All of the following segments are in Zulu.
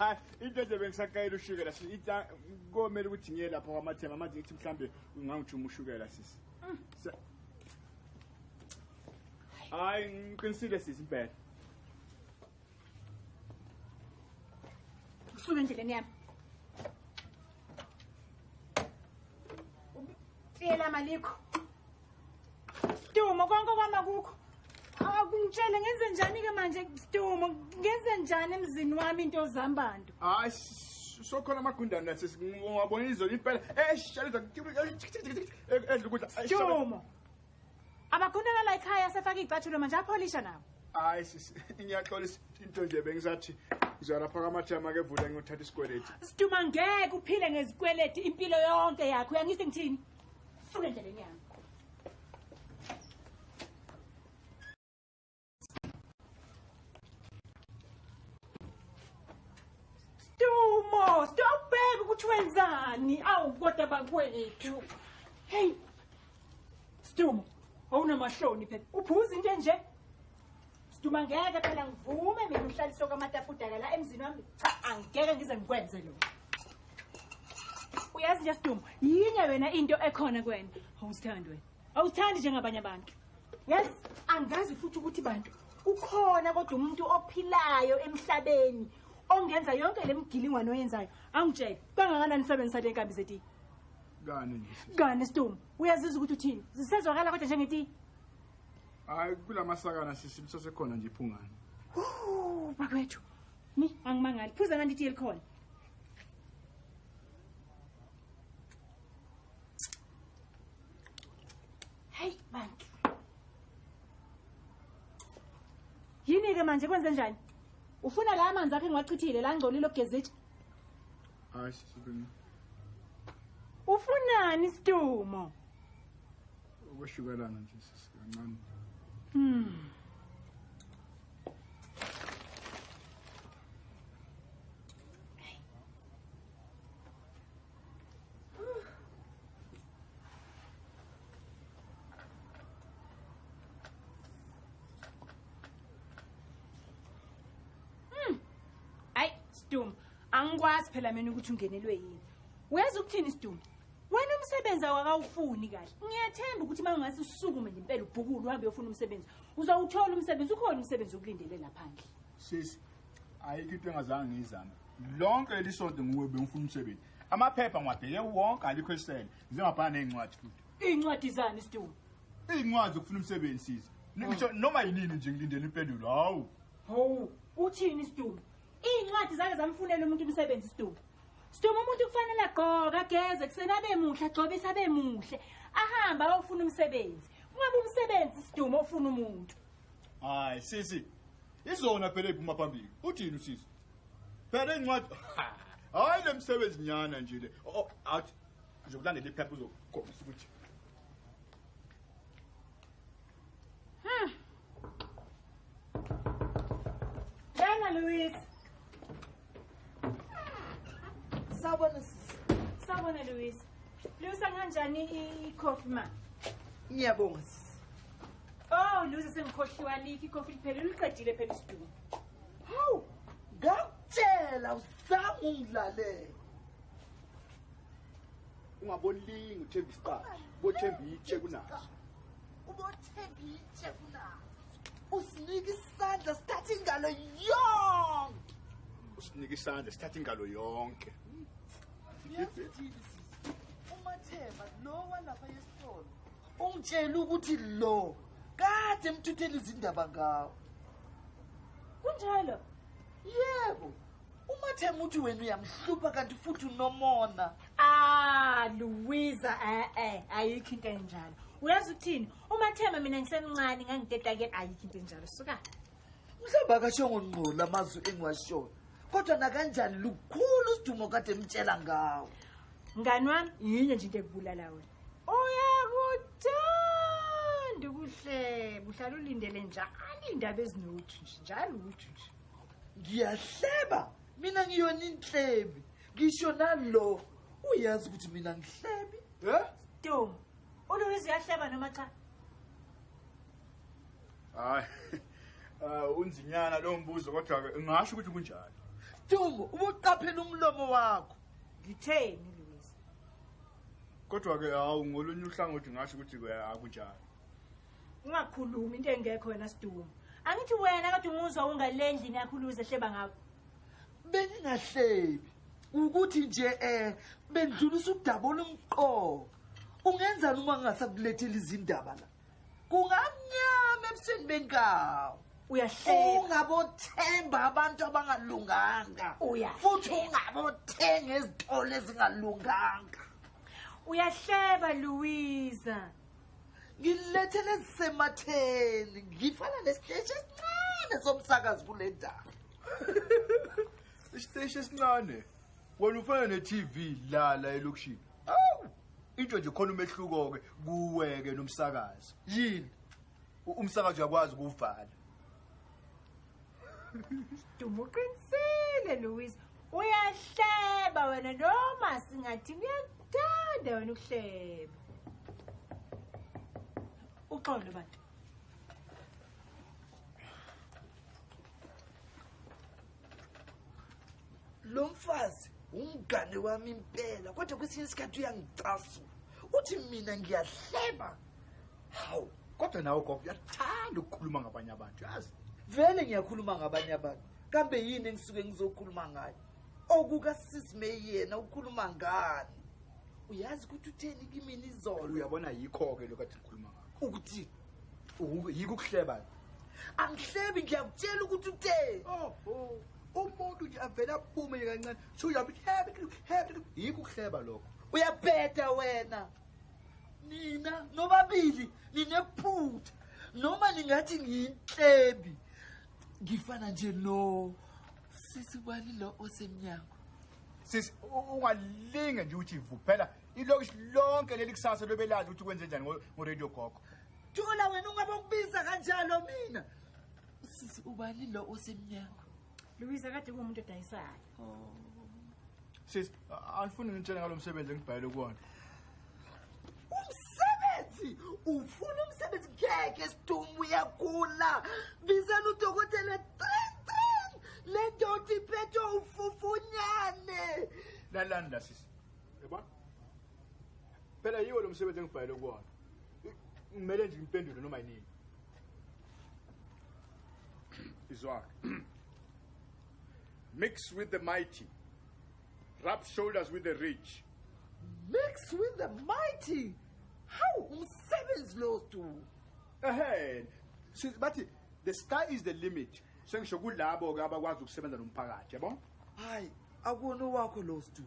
Ah, into nje bengisaqayela ushukela sisi ithi ah, komele ukuthi ngiye lapho kwamathema manje ngithi mhlambe ungangijuma ushukela sisi mm. hayi ngiqinisile sisi impela Usuke endleleni yami. Tiyela malikho. Dumo konke kwama kukho. Akungitshele ngenze njani ke manje Dumo ngenze njani emzini wami into zambantu. Hayi sokhona amagundane nathi siwabona izolo impela. Eish, shaliza edla ukudla. Dumo. Abakhonela la ekhaya sefaka icathulo manje apholisha nawo. Hayi sisi, ngiyaxolisa into nje bengisathi ngizolapha kamathama ke vula ngiyothatha isikweleti. Siduma ngeke uphile ngezikweleti impilo yonke yakho. Uyangisi ngithini? Funa endleleni yami. Stumo, stobheka ukuthi wenzani. Awu kodwa bakwethu. Hey. Stumo, awunamahloni phela. Uphuza into enje. Stumo ngeke phela ngivume mina uhlaliswe kwamatafudaka la emzini wami. Cha, angeke ngize ngikwenze lokho. Uyazi nje Stumo, yinye wena into ekhona kwena. Awusithandi wena. awuthandi njengabanye abantu yes angazi futhi ukuthi bantu ukhona kodwa umuntu ophilayo emhlabeni ongenza yonke le mgilingwane oyenzayo angitshele kangakanani isebenzisa le nkambi zetiye kani kani stum uyazizwa ukuthi uthini zisezwakala kodwa njengetiye hayi kula masakana sisi lisasekhona nje iphungane bakwethu mi angimangali phuza kanti itiye likhona Hey bantu. Yini ke manje kwenze njani? Ufuna la amanzi akhe ngiwachithile la ngcolile ogezitsha. Hayi sibini. Ufunani Stumo? Ukwehlukelana nje sisi kancane. Hmm. sidumbu angikwazi phela mina ukuthi ungenelwe yini weza ukuthini sidumbu wena umsebenzi awakawufuni kahle ngiyathemba ukuthi uma ungase usukume nje impela ubhukulu uhambe uyofuna umsebenzi uzawuthola umsebenzi ukhona umsebenzi okulindele laphandle sisi ayikho into engazange ngiyizame lonke leli sonto nguwe bengifuna umsebenzi amaphepha ngiwabheke wonke alikho esele ngize ngabhala ney'ncwadi futhi iy'ncwadi zani isitulo iy'ncwadi zokufuna umsebenzi siza ngisho noma yinini nje ngilindele impendulo hawu ho uthini isitulo iy'ncwadi zake zamfunela umuntu umsebenzi isitulo situlo umuntu kufanele agqoke ageze kuseni abe muhle agcobise abe muhle ahambe ayofuna umsebenzi kungabe umsebenzi isidumo ofuna umuntu hayi sisi izona phela eziphuma phambili uthini usisi phela incwadi hayi le msebenzi nyana nje le oh, oh, athi ngizokulandela iphepha uzokhombisa ukuthi hmm. Bena Luis Sawubona sisi. Sawubona Luisa. Luisa kanjani i-coffee ma? Ngiyabonga sisi. Oh Luisa sengikhohliwa likhi i-coffee liphele liqedile phela isidumo. Hawu, ngakutshela usanga ungilalele. Ungabolingi uthemba isiqaphi, bothemba itshe kunaso. ubothenga itshe kunazo usinike isandla sithathe ingalo yonke usinike isandla sithathe ingalo yonke umathemba lo walapha yesitolo ungitshela ukuthi lo kade emthuthela izindaba ngawo kunjalo yebo umathemba uthi wena uyamhlupha kanti futhi unomona ah luwiza e-e ayikho into enjalo uyazi ukuthini umathemba mina ngisemncane ngangidedake ayikho into enjalo suka mhlawumbe akashongo ngqola amazwi engiwashoyo kodwa nakanjani lukhulu usidumo kade emtshela ngawo mngani wami yinye nje into ekubulala wena uyakuthanda ukuhleba uhlala ulindele njalo indaba ezinothu nje njalo uthu nje ngiyahleba mina ngiyona inhlebi ngisho nalo uyazi ukuthi mina ngihlebi eh do uluwizi uyahleba noma cha hayi ah, unzinyana lo mbuzo kodwa ke ngasho ukuthi kunjani Dumbo ubuqaphela umlomo wakho ngitheni Louise kodwa ke hawu ngolunye uhlangothi ngasho ukuthi akunjani ungakhulumi into engekho wena sidumo angithi wena kade umuzwa ungale ndlini yakho uluze hleba ngakho bengingahlebi ukuthi nje um bendlulisa udaba olumqoka ungenzani uma ngingasakulethela izindaba la kungamnyama ebusweni benkawo ungabothemba abantu abangalunganga futhi ungabothenga ezitolo ezingalunganga uyahleba louisa ngilethele ezisematheni ngifana nesiteshi esincane somsakazi kule ndawo isiteshi esincane wena ufana ne-tv lala elokishini awu into nje khona umehluko-ke kuweke nomsakazi yini umsakazi uyakwazi ukuwuvala Duma uqinisile Louise. Uyahleba wena noma singathi uyakuthanda wena ukuhleba. Uxolo bantu. Lo mfazi umngane wami impela kodwa kwesinye isikhathi uyangicasula. Uthi mina ngiyahleba. hawu kodwa nawe gogo uyathanda ukukhuluma ngabanye abantu yazi vele ngiyakhuluma ngabanye abantu kambe yini engisuke ngizokhuluma ngayo okukasisi may yena ukhuluma ngani uyazi ukuthi utheni kimina izolo uyabona yikho-ke lokhu athi ngikhuluma ngakho ukuthi yikho ukuhleba angihlebi ngiyakutshela ukuthi utheni oh, oh. umuntu nje avele aphume nje kancane sho uyabe yikho ukuhleba lokho uyabheda wena nina nobabili ninephutha noma ningathi ngiyintlebi ngifana nje no sisi bani lo osemnyango sisi ungalinge nje ukuthi vuphela ilokishi lonke leli kusasa lobelazi ukuthi kwenze njani ngoradio gogo thula wena ungabe ukubiza kanjalo mina sisi ubani lo osemnyango Louisa kade kumuntu odayisayo. Oh. Sis, angifuni ngitshele ngalo msebenzi engibhayele kuwona. Umsebenzi, ufuna umsebenzi ngeke sidumbu uyagula. Bizela udokotela tring tring. Le ndoda iphethe ufufunyane. Lalanda sis. Yebo. Phela yiwo lo msebenzi engibhayele kuwona. Ngimele nje ngiphendule noma yini. Izwak. Mix with the mighty. Rub shoulders with the rich. Mix with the mighty. How umsebenzi lo tu. Ehhe. Since bathi the sky is the limit. Sengisho kulabo ke abakwazi ukusebenza nomphakathi, yabo? Hayi, akona wakho lo stu.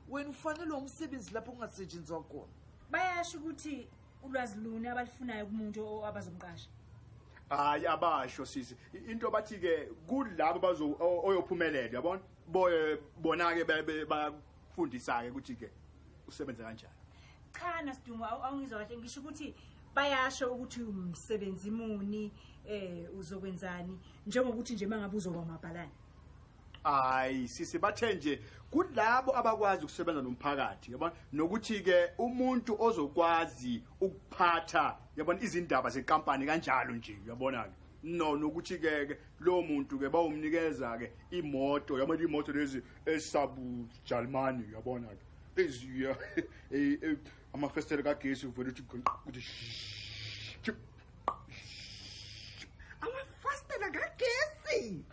Wena ufanele umsebenzi lapho kungasetshenzwa khona. Bayasho ukuthi ulwazi luni abalufunayo kumuntu abazomqasha hayi abasho sisi into bathi ke kulabo bazo oyophumelela yabona boye bona ke bayafundisa ke ukuthi ke usebenza kanjani cha nasidungu awungizwa kahle ngisho ukuthi bayasho ukuthi umsebenzi muni eh uzokwenzani njengokuthi nje mangabe uzoba mabhalani hayi sisi bathe nje kulabo abakwazi ukusebenza nomphakathi yabona nokuthi ke umuntu ozokwazi ukuphatha yabona izindaba zekampani kanjalo nje uyabona ke no nokuthi ke ke lo muntu ke bawumnikeza ke imoto yabona imoto lezi esabu Jalimani uyabona ke eziya e, e, amafestele kagesi uvela uthi ukuthi amafestele kagesi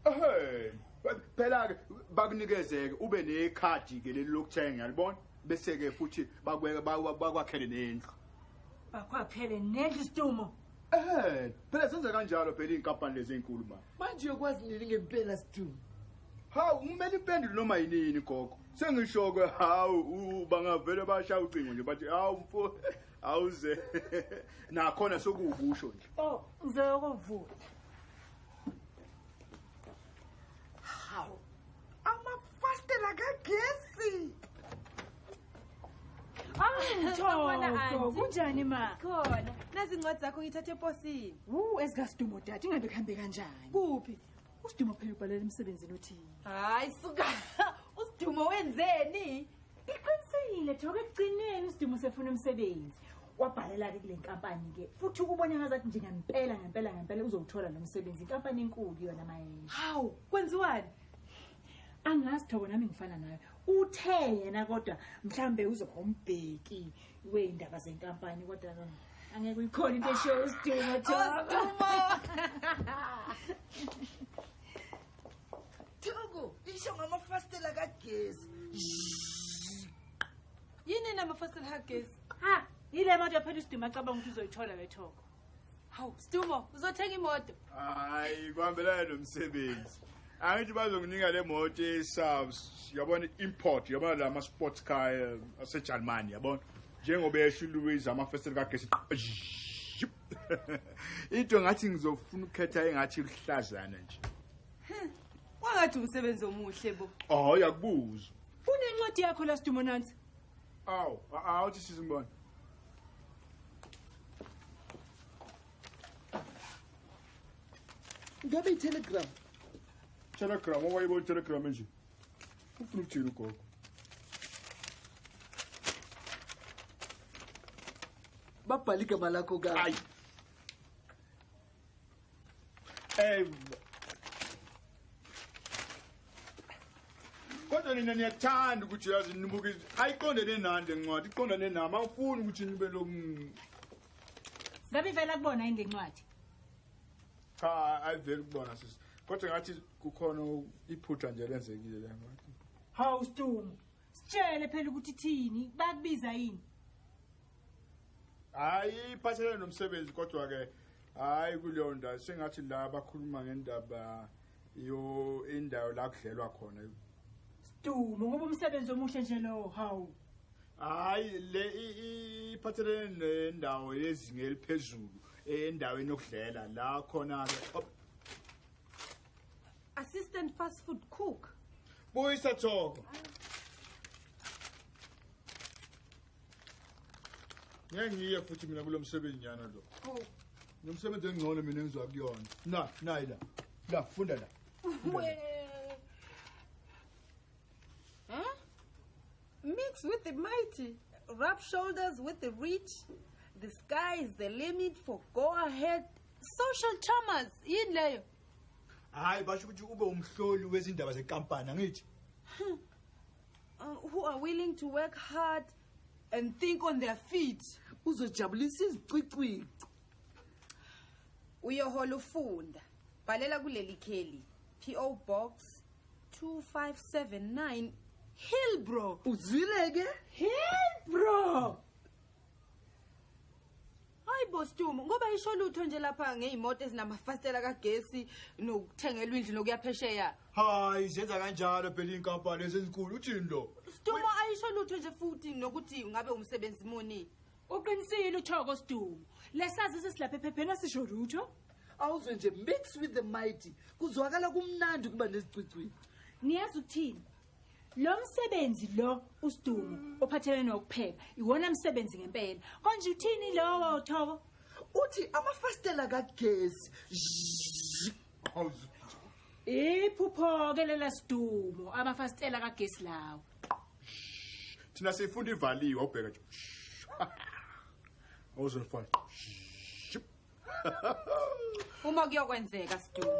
Hey, phela ke bakunikezeke ube nekhadi ke leli lokuthenga yalibona bese ke futhi bakweke bakwakhele nendlu. Bakwakhele nendlu stumo. Eh, phela senza kanjalo phela inkampani lezi ezinkulu manje. Manje uyokwazi nini ngempela stumo? Hawu, kumele impendulo noma yinini gogo. Sengisho ke hawu bangavele bashaya ucingo nje bathi hawu mfo awuze nakhona sokuwukusho nje. Oh, ngizokuvula. kunjani ma khona nazi incwadi zakho ngithathe eposini wu ezikasidumo dade ingabe kuhambe kanjani kuphi usidumo phela ubhalela emsebenzini othini hayi suka usidumo wenzeni Iqinisekile Joke ekugcineni uSdimu usefuna umsebenzi. Wabhalela ke kule nkampani ke futhi ukubona ngazathi nje ngempela ngempela ngempela uzowuthola lo msebenzi inkampani enkulu yona mayena. Hawu kwenziwani? angazi thoko nami ngifana nayo uthe yena kodwa mhlambe uzohombheki weindaba zenkampani kodwa ke angeke uyikhona into eshiyo usidingo thoko Thuku, isho ngamafastela kagesi. Yini namafastela kagesi? Ha, yile moto yaphela isidima acabanga ukuthi uzoyithola le thoko. Hawu, Stumo, uzothenga imoto. Hayi, kuhambelana nomsebenzi. Angithi bazonginika le moto eSAVS, yabona import, yabona lama sports car eh, aseJalimani, yabona. Njengoba esho uLouise amafastela kagesi. Into ngathi ngizofuna ukukhetha engathi luhlazana nje. Wangathi umsebenzi omuhle bo. Oh, yakubuza. Unencwadi yakho la Stumo nansi. Aw, aw uthi sizimbona. Ngabe itelegram. Telegram, owayibo telegram nje. Ufuna ukujela ugogo. Babhale igama lakho kabi. Hayi. Eh kodwa nina niyathanda ukuthi uyazi nibuke ayiqondene nani le ncwadi iqondane nami awufuni ukuthi nibe lo ngabe ivela kubona yini le ncwadi cha ayiveli kubona sisi kodwa ngathi kukhona iphutha nje lenzekile le ncwadi hawu stumu sitshele phela ukuthi thini bakubiza yini hayi iphathelene nomsebenzi kodwa-ke hayi kuleyo ndawo sengathi la bakhuluma ngendaba yo indawo la kudlelwa khona stumo ngoba umsebenzi omuhle nje lowo hawu hayi le iphathelene nendawo yezinga eliphezulu endaweni yokudlela la khona-ke assistant fast food cook buyisa thoko ngeke ngiye futhi mina kulo msebenzi nyana lo oh. nomsebenzi engcono mina engizoya kuyona na nayi la la funda la mix with the mighty rub shoulders with the rich the sky is the limit for go ahead social traumas yini leyo hayi basho ukuthi ube umhloli wezindaba zenkampani angithi uh, who are willing to work hard and think on their feet uzojabulisa izicwicwici uyohola ufunda bhalela kuleli kheli PO box 2579 Hillbrow uzwile ke Hillbrow hayi bostumo ngoba isho lutho nje lapha ngeyimoto ezinamafasitela kagesi nokuthengelwa indlu nokuyaphesheya hayi zenza kanjalo phela inkampani ezinkulu uthini lo stumo ayisho lutho nje futhi nokuthi ngabe umsebenzi muni uqinisile uthoko stumo lesazisi silapha ephepheni asisho lutho awuzwe nje mix with the mighty kuzwakala kumnandi ukuba nezicwicwini niyazi ukuthini lo msebenzi lo usidumo ophathelene nokupheka iwona msebenzi ngempela konje uthini lowo thoko uthi amafastela kagesi iphupho-ke lela sidumo amafastela kagesi lawo thina siyifunda ivaliwe awubheka nje awuzwe mfana uma kuyokwenzeka sidumo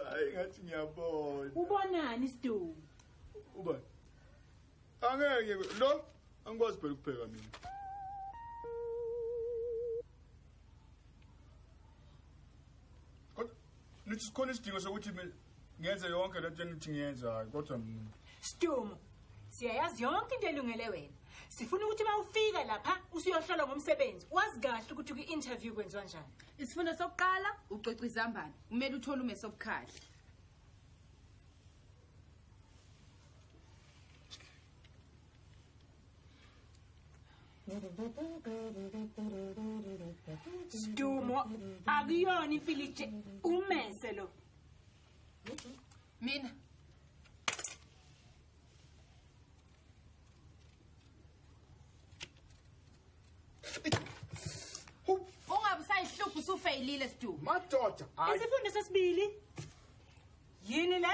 hayi ngathi ngiyabona ubonani sidumo ubani angeke lo angikwazi phela ukupheka mina nithi sikhona isidingo sokuthi ngenze yonke le nto enithi ngiyenze hhayi kodwa mina sidumo siyayazi yonke into elungele wena sifuna ukuthi uma ufika lapha usuyohlolwa ngomsebenzi wazi kahle ukuthi kwi-interview kwenziwa njani isifundo sokuqala ucoca izambane kumele uthole umesobukhali Sidumo akuyona imfilitshe umese lo. Mina Ungabusayihluphi usufeyilile Sidumo. Madoda, hayi. Isifundo sesibili. yini le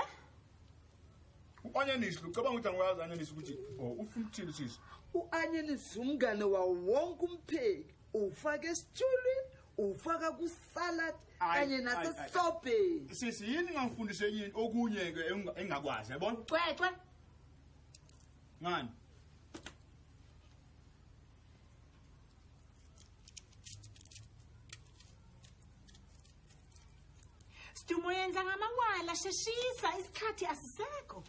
u-anyanisi lucabanga ukuthi angiwazi anyanisi ukuthi oh, ufuna ukuthini sisi u-anyanisi umngane wawo wonke umpheki uwufaka esitshulwini uwufaka kusalad kanye nasesobheni sisi yini ngangifundise enye into okunye-ke engingakwazi yabona cwecwe ngani Stumo yenza ngamawala sheshisa isikhathi asisekho.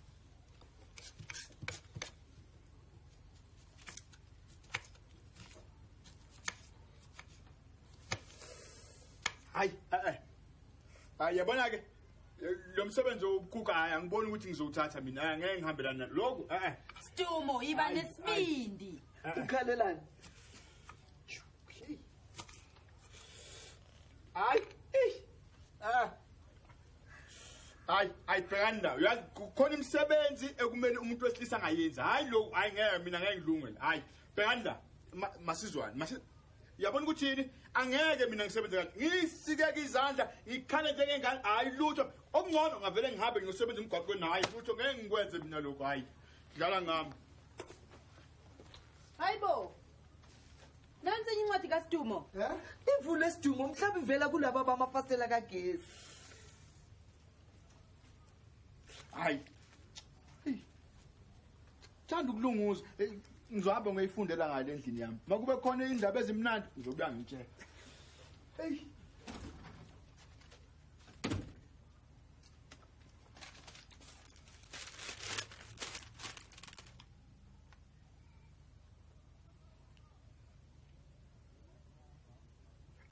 Hayi eh eh. Hayi yabona ke lo msebenzi wokukhukha hayi angiboni ukuthi ngizowuthatha mina hayi ngeke ngihambelana lokho eh eh. Stumo yiba nesibindi. ukhalelani hayi ah. hayi hayi bhekani ndawo uyazi kukhona imisebenzi ekumele umuntu wesilisa angayenzi hhayi lo hhayi ngeke mina ngeke ngilungele hhayi bhekani la masizwane yabona ukuthi yini angeke mina ngisebenze kanje ngiyisikeke izandla ngikhale njengengane hhayi lutho okungcono ngavele ngihambe ngiyosebenza emgwaqweni hhayi lutho ngeke ngikwenze mina lokhu hhayi dlala ngami hayi bo nansi enye incwadi kasidumo ivule esidumo mhlawumbe ivela kulaba bamafasitela kagesi hayi thanda ukulunguza ngizohamba ngiyifundela ngale endlini yami makube khona indaba ezimnandi ngizobuya ngitshela eyi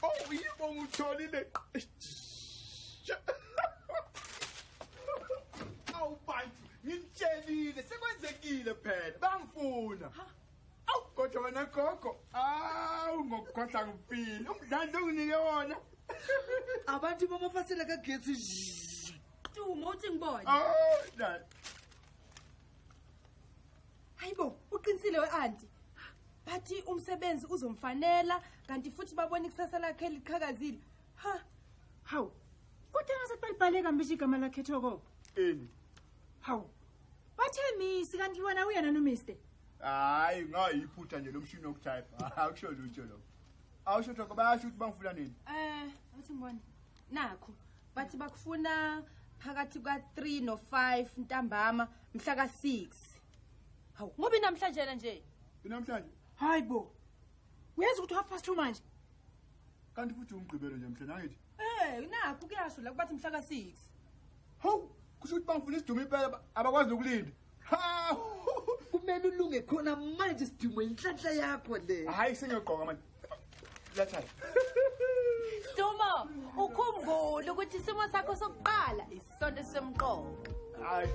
Oh, yebo ngitholile. Awu bantu, ngimtshelile sekwenzekile phela. Bangifuna. awu kodwa wena gogo awu ngokukhohla ngifile umdlandla onginike wona abantu bamafasela kagesi tuma uthi ngibone hayi bo uqinisile we-anti bathi umsebenzi uzomfanela kanti futhi babona ikusasa lakhe liqhakazile ha hawu kodwa ngazathi balibhaleka mbishi igama lakhe thoko ini hawu Bathe misi kanti wena uyena no mister. Hayi ngayiphutha nje lomshini wokutype. Akusho lutho lokho. Awusho thoko bayasho ukuthi bangifuna nini? Eh, uthi ngibona. Nakho bathi bakufuna phakathi kwa 3 no 5 ntambama mhla ka 6. Hawu, ngoba namhlanje nje. Inamhlanje. Hayi bo. Uyazi ukuthi half past 2 manje. Kanti futhi umgqibelo nje mhla nangithi. Eh, nakho kuyasho la kubathi mhla ka 6. Hawu, kusho ukuthi bangifuna isidumo impela abakwazi nokulinda. Ha! Kumele ulunge khona manje sidumo inhlanhla yakho le. Hayi sengiyogqoka manje. Letha. Stumo, ukhumbule ukuthi isimo sakho sokuqala isonto esisemqoka. Hayi.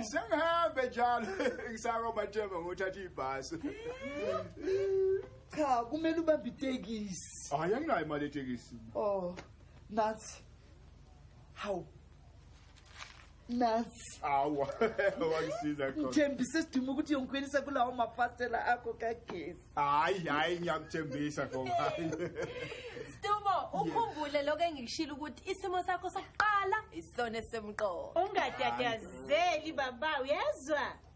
sengihambe njalo ngisako batshema ngothatha ibhasi cha kumele ubambe itekisi hayi anginayo imali etekisini o oh, nathi hawu nasi awa wangisiza khona ngithembise siduma ukuthi yongikhwelisa kulawo mafastela akho kagesi hayi hayi ngiyakuthembisa khona hayi Stumo ukhumbule lokho engikushilo ukuthi isimo sakho sokuqala isona esemqoka ungatatazeli baba uyezwa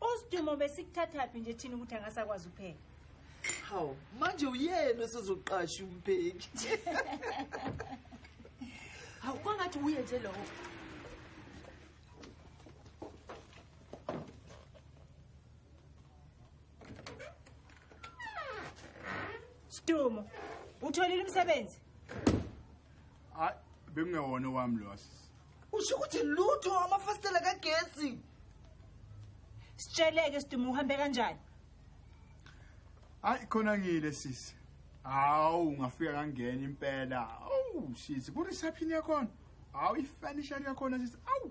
Usidumo besikuthathaphi nje thina ukuthi angasakwazi ukupheka. Hawu, manje uyena osezoqasha umpheki. Hawu kwangathi uye nje lowo. Sidumo, utholile umsebenzi? Hayi, bekungewona wami lo asisi. usho ukuthi lutho amafasitela kagesi sitsheleke siduma uhambe kanjani hayi khona ngile sisi hawu ungafika kangena impela awu sisi ku-reception yakhona hawu ifurnishari yakhona sisi awu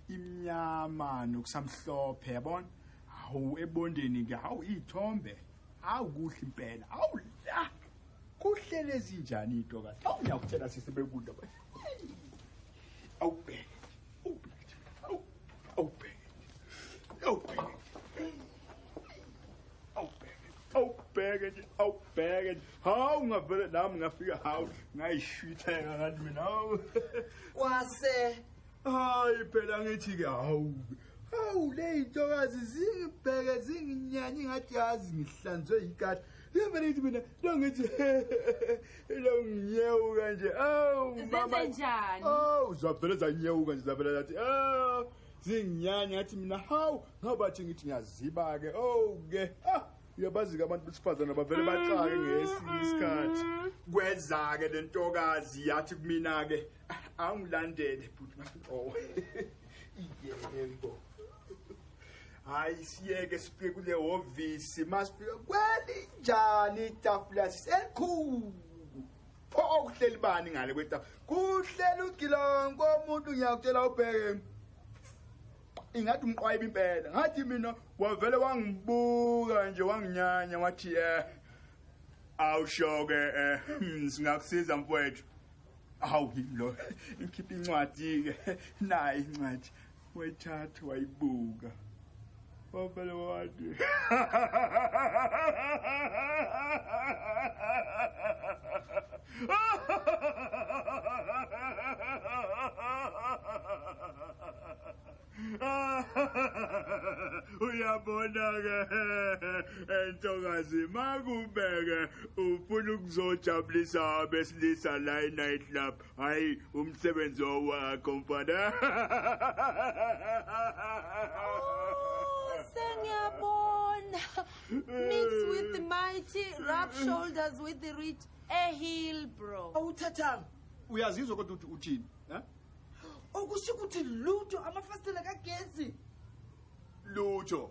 imnyama nokusamhlophe yabona hawu ebondeni ke hawu iy'thombe hawu kuhle impela hawu la kuhlele ezinjani iy'ntokazi hawu ngiyakutshela sisi bekudla awubheke awubheke awubheke awubheke nje awubheke nje hawu ngavele nami ngafika hawu ngayishwitheka kanti mina hawu kwase hayi phela ngithi-ke hawu hawu le yintokazi zingibheke zinginyanye ngathi yazi ngihlanzwe yikati Yevele ithi mina longithi longiyewuka nje. Awu mama. Zenze njani? Awu zavele zanyewuka nje zavele zathi awu zinginyanya ngathi mina hawu ngabathi ngithi ngiyaziba ke. Oh ke. Ah uyabazi ke abantu besifazane bavele baxake ngesinye isikhathi. Kweza ke lentokazi yathi kumina ke angilandele bhuti. Oh. Yebo. hayi siyeke sifike kule hhovisi masifika kwelinjani itafula siselikhulu pho okuhleli bani ngale kwetafula kuhleli ugilongo omuntu ngiyakutshela ubheke ingathi umqwayiba impela ngathi mina wavele wangibuka nje wanginyanya wathi eh awushoke eh hmm, singakusiza mfowethu awu lo ngikhipha incwadi ke nayi incwadi wayithatha wayibuka wavele wathi uyabona-ke entokazi makubeke ufuna ukuzojabulisa abesilisa la e-night club hayi umsebenzi owakho mfana sengiyabona mix with the mighty rub shoulders with the rich a heel bro awuthathanga uyazizwa kodwa ukuthi uthini eh? okusho ukuthi lutho amafasitela kagesi lutho